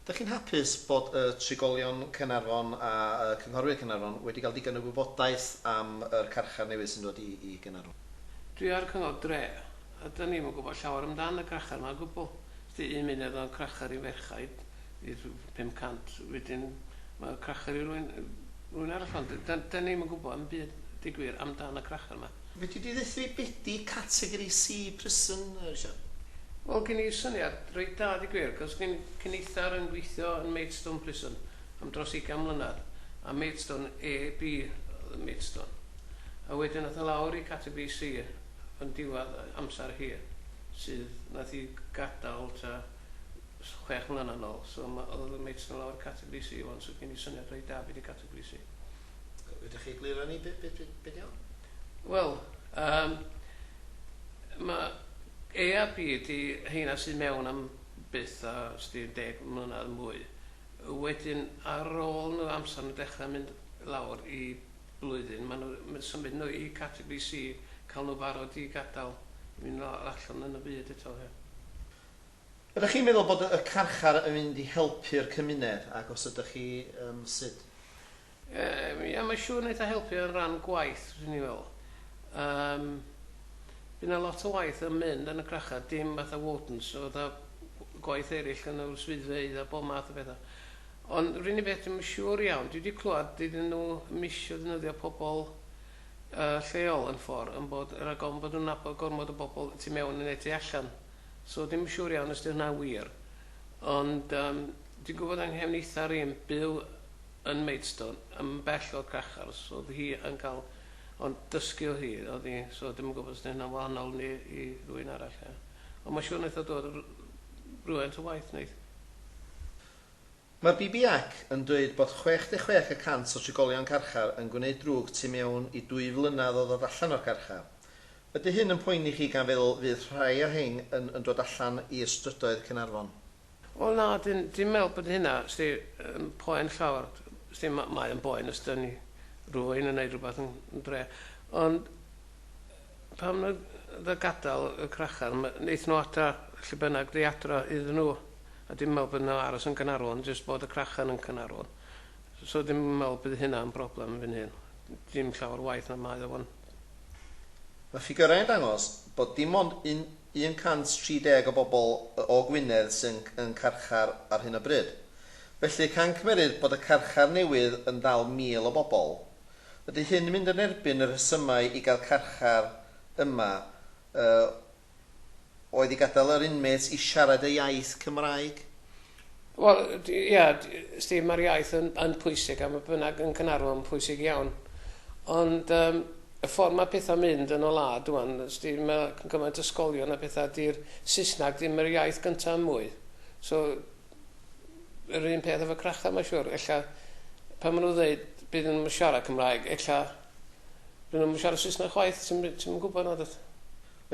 Dych chi'n hapus bod y trigolion Caernarfon a y cynghorwyr Caernarfon wedi cael digon o wybodaeth am yr carchar newydd sy'n dod i Gaernarfon? Dwi a'r cyngor dre, a dyn ni'm yn gwybod llawer amdan y crachar ma o gwbl. Sdi un munud o'dd o'n crachar i ferchaid i rhyw 500, wedyn ma o'n crachar i rywun rywun arall ond dyn ni'm yn gwybod 'im byd deu gwir amdan y crachar ma. Fedri di ddeuthu fi be di categori C prison Siân? Wel gen i syniad reit da di gwir cos gen cyn eithr yn gweithio yn Maidstone prison am dros ugain mlynedd a Maidstone AB oedd yn Maidstone a wedyn ath o lawr i categori C yn diwadd amser hi sydd nath i gadal ta chwech mlynedd nol so ma oedd o Maidstone lawr i categori C wan so gen i syniad reit da be di categori C. Ydych chi egluro ni beth beth beth beth iawn? Wel yym ma' AAP ydi heina sy mewn am byth a os di'n deg mlynadd mwy wedyn ar ôl nhw amser nhw'n dechrau mynd lawr i blwyddyn ma' nhw ma' symud nhw i categori See ca'l nhw barod i gadal i mynd lawr allan yn y byd eto ie. Ydych chi'n meddwl bod y carchar yn mynd i helpu'r cymuned, ac os ydych chi, yym, sut? Yym, ia, mae'n siŵr wneith o helpu yn ran gwaith, fyswn i'n feddwl. Yym, bydd 'na lot o waith yn mynd yn y crachar, dim fatha wardens, so fatha gwaith eraill yn yr swyddfeydd a bob math o bethau. Ond r'un un beth dwi'm yn siŵr iawn, dwi wedi clywed dydyn nhw ddim isio ddefnyddio pobl yy lleol yn ffordd, yn bod, rhag ofn bod nhw'n nabod gormod o bobl y tu mewn yn y tu allan. so ddim yn siŵr iawn os 'di hwnna'n wir. Ond um, dwi'n gwybod yng nghefnitha rîm byw yn Maidstone, yn bell o'r crachar, so oedd hi yn cael... Ond dysgu o hi, oedd hi, so ddim yn gwybod os 'di hynna'n wahanol ni i rwy'n arall. Ond mae'n siŵr wnaeth o dod rhywfaint o waith wneud. Mae BBAC yn dweud bod 66 y cant o drigolion carchar yn gwneud drwg tu mewn i dwy flynedd o ddod allan o'r carchar. Ydy hyn yn poeni chi gan feddwl fydd rhai o rhein yn yn dod allan i ystrydoedd Caernarfon? Wel na, dwi'n dwi'n meddwl bod hynna sdi yn poen llawer. Sdi ma- mae o'n boen os dan ni rywun yn wneud rhywbeth yn yn drech. Ond Pam na dda gadael y crachar? Ma- neith nhw adra lle bynnag ddi adra iddyn nhw a dim meddwl bod nhw'n aros yn Gaernarfon jyst bod y crachar yn Caernarfon. So dim yn meddwl bydd hynna yn broblem fy nhun. Dim llawer waeth na mae o wan. Mae ffigyrau'n dangos bod dim ond 130 o bobl o Gwynedd sy'n yn carchar ar hyn o bryd. Felly cancmerydd bod y carchar newydd yn dal 1,000 o bobl, Ydy hyn yn mynd yn erbyn y rhesymau i gael carchar yma, yy, oedd i gadael yr inmates i siarad eu iaith Cymraeg? Wel, ia, Steve, mae'r iaith yn, yn pwysig, a mae bynnag yn Caernarfon yn pwysig iawn. Ond um, y ffordd mae pethau'n mynd yn y wlad rwan, Steve, mae cymaint ysgolion a pethau, di'r Saesneg ddim yr iaith gyntaf mwy. So, yr un peth efo crachau mae'n siŵr. Ella pan maen nhw'n dweud bydd nhw'n yn siarad Cymraeg, ella bydd nhw'n siarad Saesneg chwaith, ti'n yn gwybod na dweud.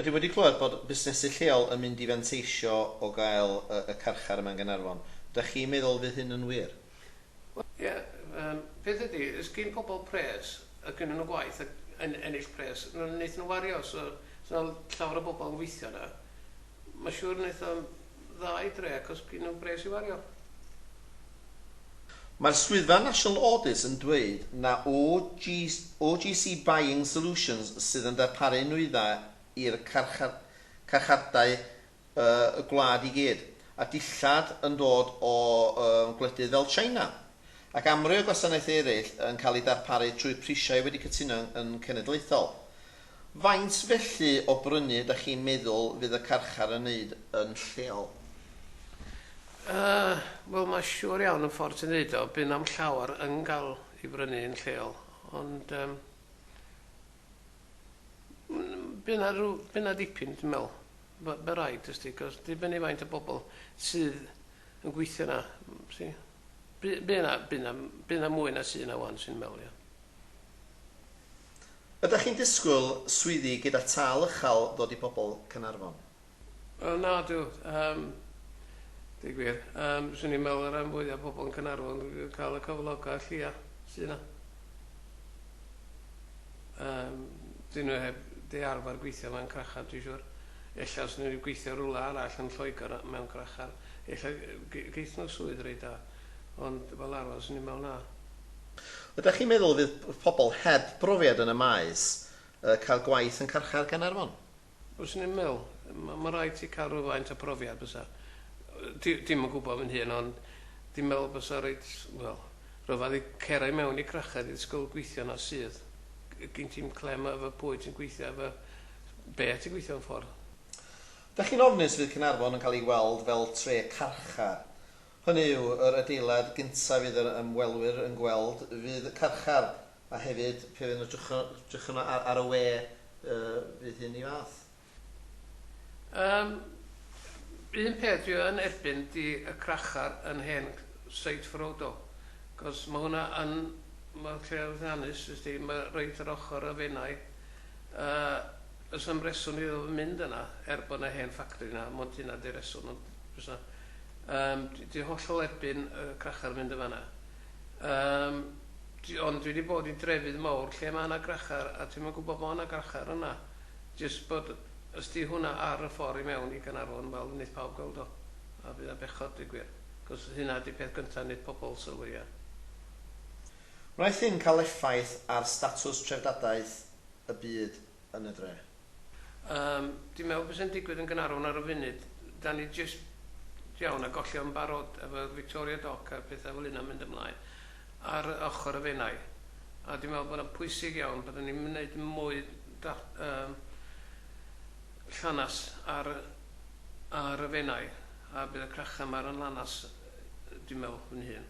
Dwi wedi clywed bod busnesu lleol yn mynd i fanteisio o gael y carchar yma yn Gaernarfon. Dach chi'n meddwl fydd hyn yn wir? Wel ie, yym peth ydi, os gin pobl pres a gynnon nhw gwaith ac yn ennill pres, wnaethon nhw wario, so os na llawer o bobl yn gweithio yna, Mae'n siŵr wneith o'n dda i dre achos gin nhw bres i wario. Mae'r Swyddfa National Audit yn dweud na OGC Buying Solutions sydd yn darparu nwyddau i'r carchardai y gwlad i gyd, a dillad yn dod o gwledydd fel China, ac amryw o gwasanaethau eraill yn cael eu darparu trwy prisiau wedi cytuno yn cenedlaethol. Faint felly o brynu ydach chi'n meddwl fydd y carchar yn neud yn lleol? Yy, wel ma' siŵr iawn y ffordd ti'n ddeud o, by' na'm llawar yn ga'l 'i brynu yn lleol, ond yym mm by' 'na rw- by' 'na dipyn dwi'n me'wl, by- by' raid, wsti, 'c'os dibynnu faint o bobol sydd yn gweithio 'na, wsti. By- Bydd 'na, bydd 'na, bydd 'na mwy na sy' 'na ŵan, 'swn i'n meddwl, ia. Ydach chi'n disgwyl swyddi gyda tâl uchal ddod i bobl Caernarfon? Wel, na, dw. Yym, deud gwir, yym, 'swn i'n meddwl y rhan fwya' o bobl yn Caernarfon yn cael y cyfloga' lleia sy' 'na. Yym, dyn nhw heb 'di arfer gweithio mewn crachar, dwi'n siŵr. Ella os 'ny nhw 'di gweithio rywle arall yn Lloegr mewn crachar, ella ge- geith nhw swydd reit da. Ond fel arfer, 'swn i'n meddwl na. Ydach chi'n meddwl y bydd pobl heb brofiad yn y maes yy cael gwaith yn carchar Gaernarfon? Fyswn i'n meddwl. Ma- ma' raid ti cael rhywfaint o profiad bysa. Di- dim yn gwybod fy hun ond dwi'n meddwl bysa reit, wel, rhyfadd i cera i mewn i Crached i ddysgol gweithio na sydd. G- gin ti'm clem efo pwy ti'n gweithio efo, be' ti'n gweithio mewn ffordd. Dach chi'n ofnus fydd Caernarfon yn cael ei weld fel tre carchar. Hynny yw, yr adeilad gyntaf fydd yr ymwelwyr yn gweld fydd y carchar, a hefyd, pe fydden nhw'n edrych ar y we, fydd hyn i fath. Yym, un peth dwi yn erbyn 'di y crachar yn hen Side Frodo, cos ma' hwnna yn, ma' lle llwyddiannus wst ti, ma' reit ar ochr y Fenai, a does 'na'm reswm iddo fo mynd yna, er bod 'na hen ffactri 'na, mond hynna 'di reswm, ond does 'na, Yym dwi dwi hollol erbyn yy crachar yn mynd yn fan'na. Yym dwi ond dwi 'di bod i drefydd mowr lle ma' 'na grachar a dwi'm yn gwbod bo' 'na grachar yna. Jyst bod os 'di hwnna ar y ffor i mewn i Gaernarfon wel neith pawb gweld o a bydd o'n bechod deu gwir. 'C'os hynna 'di peth gynta neith pobol sylwi ar. Wnaeth hyn cael effaith ar statws trefdadaeth y byd? yn y dre? Yym, dwi'n meddwl byse'n digwydd yn Gaernarfon ar y funud. Da ni jyst iawn a gollion yn barod efo'r Victoria Dock a'r pethau fel hynna'n mynd ymlaen ar ochr y Fenai. A dwi'n meddwl bod yna'n pwysig iawn bod ni'n gwneud mwy da, um, llanas ar, ar y Fenai a bydd y crachau yma yn lanas, dwi'n meddwl, fy hun.